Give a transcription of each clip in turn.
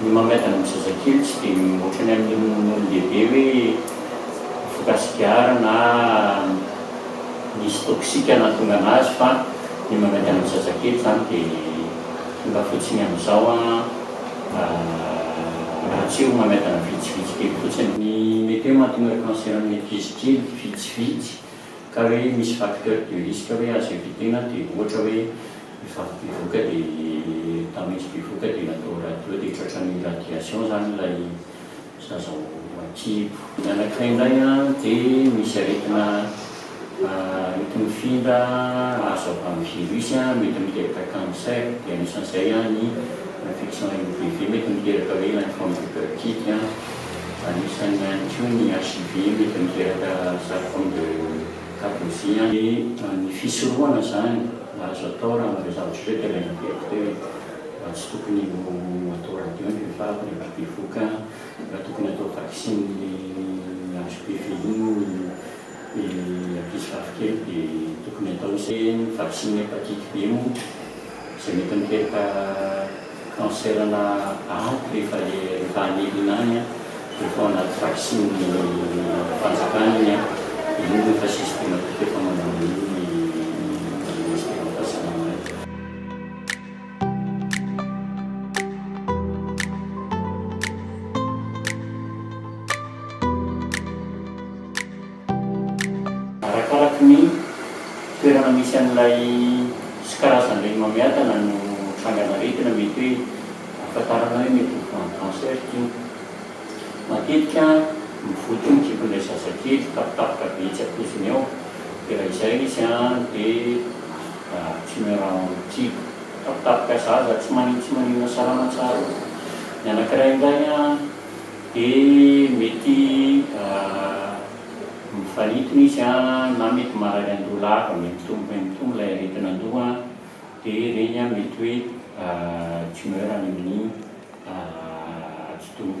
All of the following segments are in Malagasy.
Ny mahamaivana ny zazakely tsy dia ohatrany amin'ny olon-dehibe hoe mifoka sigara na misy toxique nahatonga anazy fa ny mamaivana ny zazakely izany dia tonga fotsiny amin'izao raha tsy ho mamaivana vitsivitsy kely fotsiny. Ny mety hoe mahatonga cancer amin'ny ankizy kely vitsivitsy. ka hoe misy facteur de risque hoe azo evitement dia ohatra hoe vehivavy bevoka dia tamin'izy bevoka dia natao radio dia tratran'ny radiation zany ilay zaza ao an-kibo. Ny anankiray indray dia misy aretina arety mifindra azo avy amin'ny virus mety miteraka cancer dia anisan'izay ny infection MPV mety miteraka hoe infant du cœur kid. Anisan'ny ihany koa ny HIV mety miteraka sarcome de Kaposi. Dia ny fisorohana izany azo atao raha anareo zavatra ohatr'ireo dia alaina teto teo e. Raha tsy tokony ho atao radio ny vehivavy rehefa bevoka, raha tokony atao vaksiny ny HPV iny ny. ny ankizy vavikely dia tokony atao hoe ny vaksiny hepatite B moa izay mety miteraka cancer na aty rehefa rehefa any Irina any an dia efa ao anaty vaksiny fanjakana iny an dia iny no efa systematique efa manao an'iny ny ministera fahasalamana. Arakaraky ny toerana misy an'ilay sy karazan'ireny mamiadana no trangana aretina mety hoe ahafantarana hoe mety ho grande cancer iny. Matetika mivoty io ny kipon'ilay zazakely, tapitapitra be tsy ampoiziny ao dia raha izay izy dia. Timerao ity. Tapitapika zaza tsy manin tsy maninona salama tsara ô. Ny anakiray indray an de mety mifanintona izy an na mety marary andoha lava me mitombo me mitombo ilay aretina andoha an de ireny an mety hoe tumeur any amin'ny atidoha.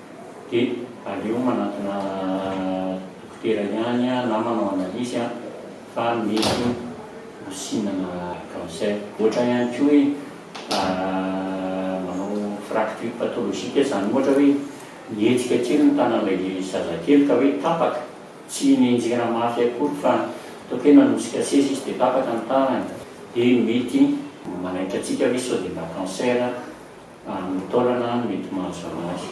dia aleo manantona dokotera ihany na manao analyse fa mety ho sinana cancer. Ohatra ihany koa hoe manao fracture pathologique izany ohatra hoe mihetsika kely ny tanan'ilay zazakely ka hoe tapaka, tsy nenjehina mafy akory fa ataoko hoe nanosika seza izy dia tapaka ny tanany dia mety manaitra antsika hoe sao dia mba cancer. Amin'ny taolana no mety mahazava azy.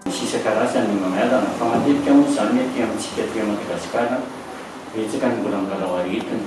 Misy isan-karazany ny mang'adana, fa matetika moa izany ny aty amintsika aty Madagasikara, betsaka ny mbola milalao aretina.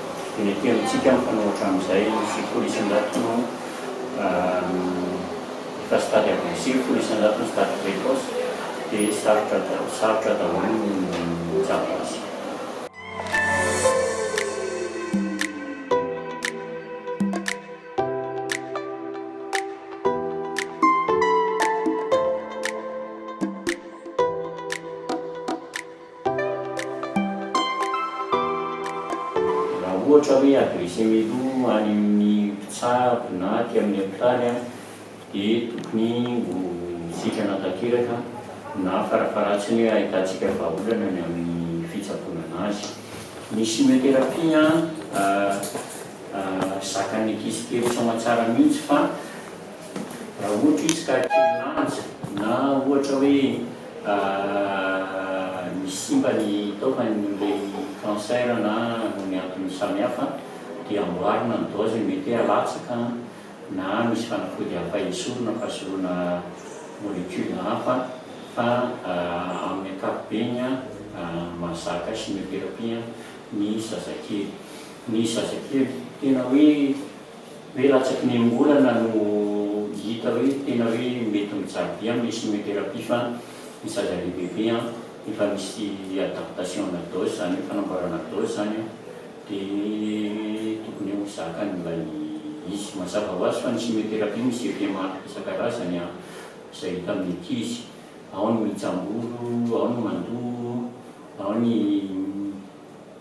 dia mety amintsika ny mpanao hatramin'izay ny sekoly isan-jato no efa stade avancé, folo isan-jato no stade précoce, dia sarotra sarotra daholo ny mijapy azy. Raha ohatra hoe adresser-me aloha any amin'ny mpitsabo na aty amin'ny hopitaly aho dia tokony ho sitrana tanteraka na farafaharatsiny hoe ahitantsika vahaolana ny amin'ny fitsaboana an'azy. Ny chimiothérapie zakan'ny ankizy kely soamatsara mihitsy fa. Raha ohatra izy ka kely lanja na ohatra hoe misy simba ny taovany noho ilay cancer na noho ny antony samihafa dia amboarina ny dose, mety hoe alatsaka na misy fanafody hafa esorina fa soloina molecule hafa fa amin'ny ankapobeny mahazaka chimiothérapie ny zazakely. Ny zazakely tena hoe. Hoe latsaky ny angorana no hita hoe tena hoe mety mijaly be amin'ny chimiothérapie fa ny zaza lehibe be an, efa misy adaptation na dose zany hoe fanamboarana dose zany an, de tokony ho zakany ilay izy. Mazava ho azy fa ny chimiothérapie misy effet maro isan-karazany an, izay hita amin'ny ankizy, ao ny mijambolo, ao ny mandoa, ao ny.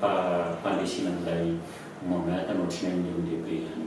fa fandresena an'ilay Mohammad no tsy main'ny olon-dehibe ihany.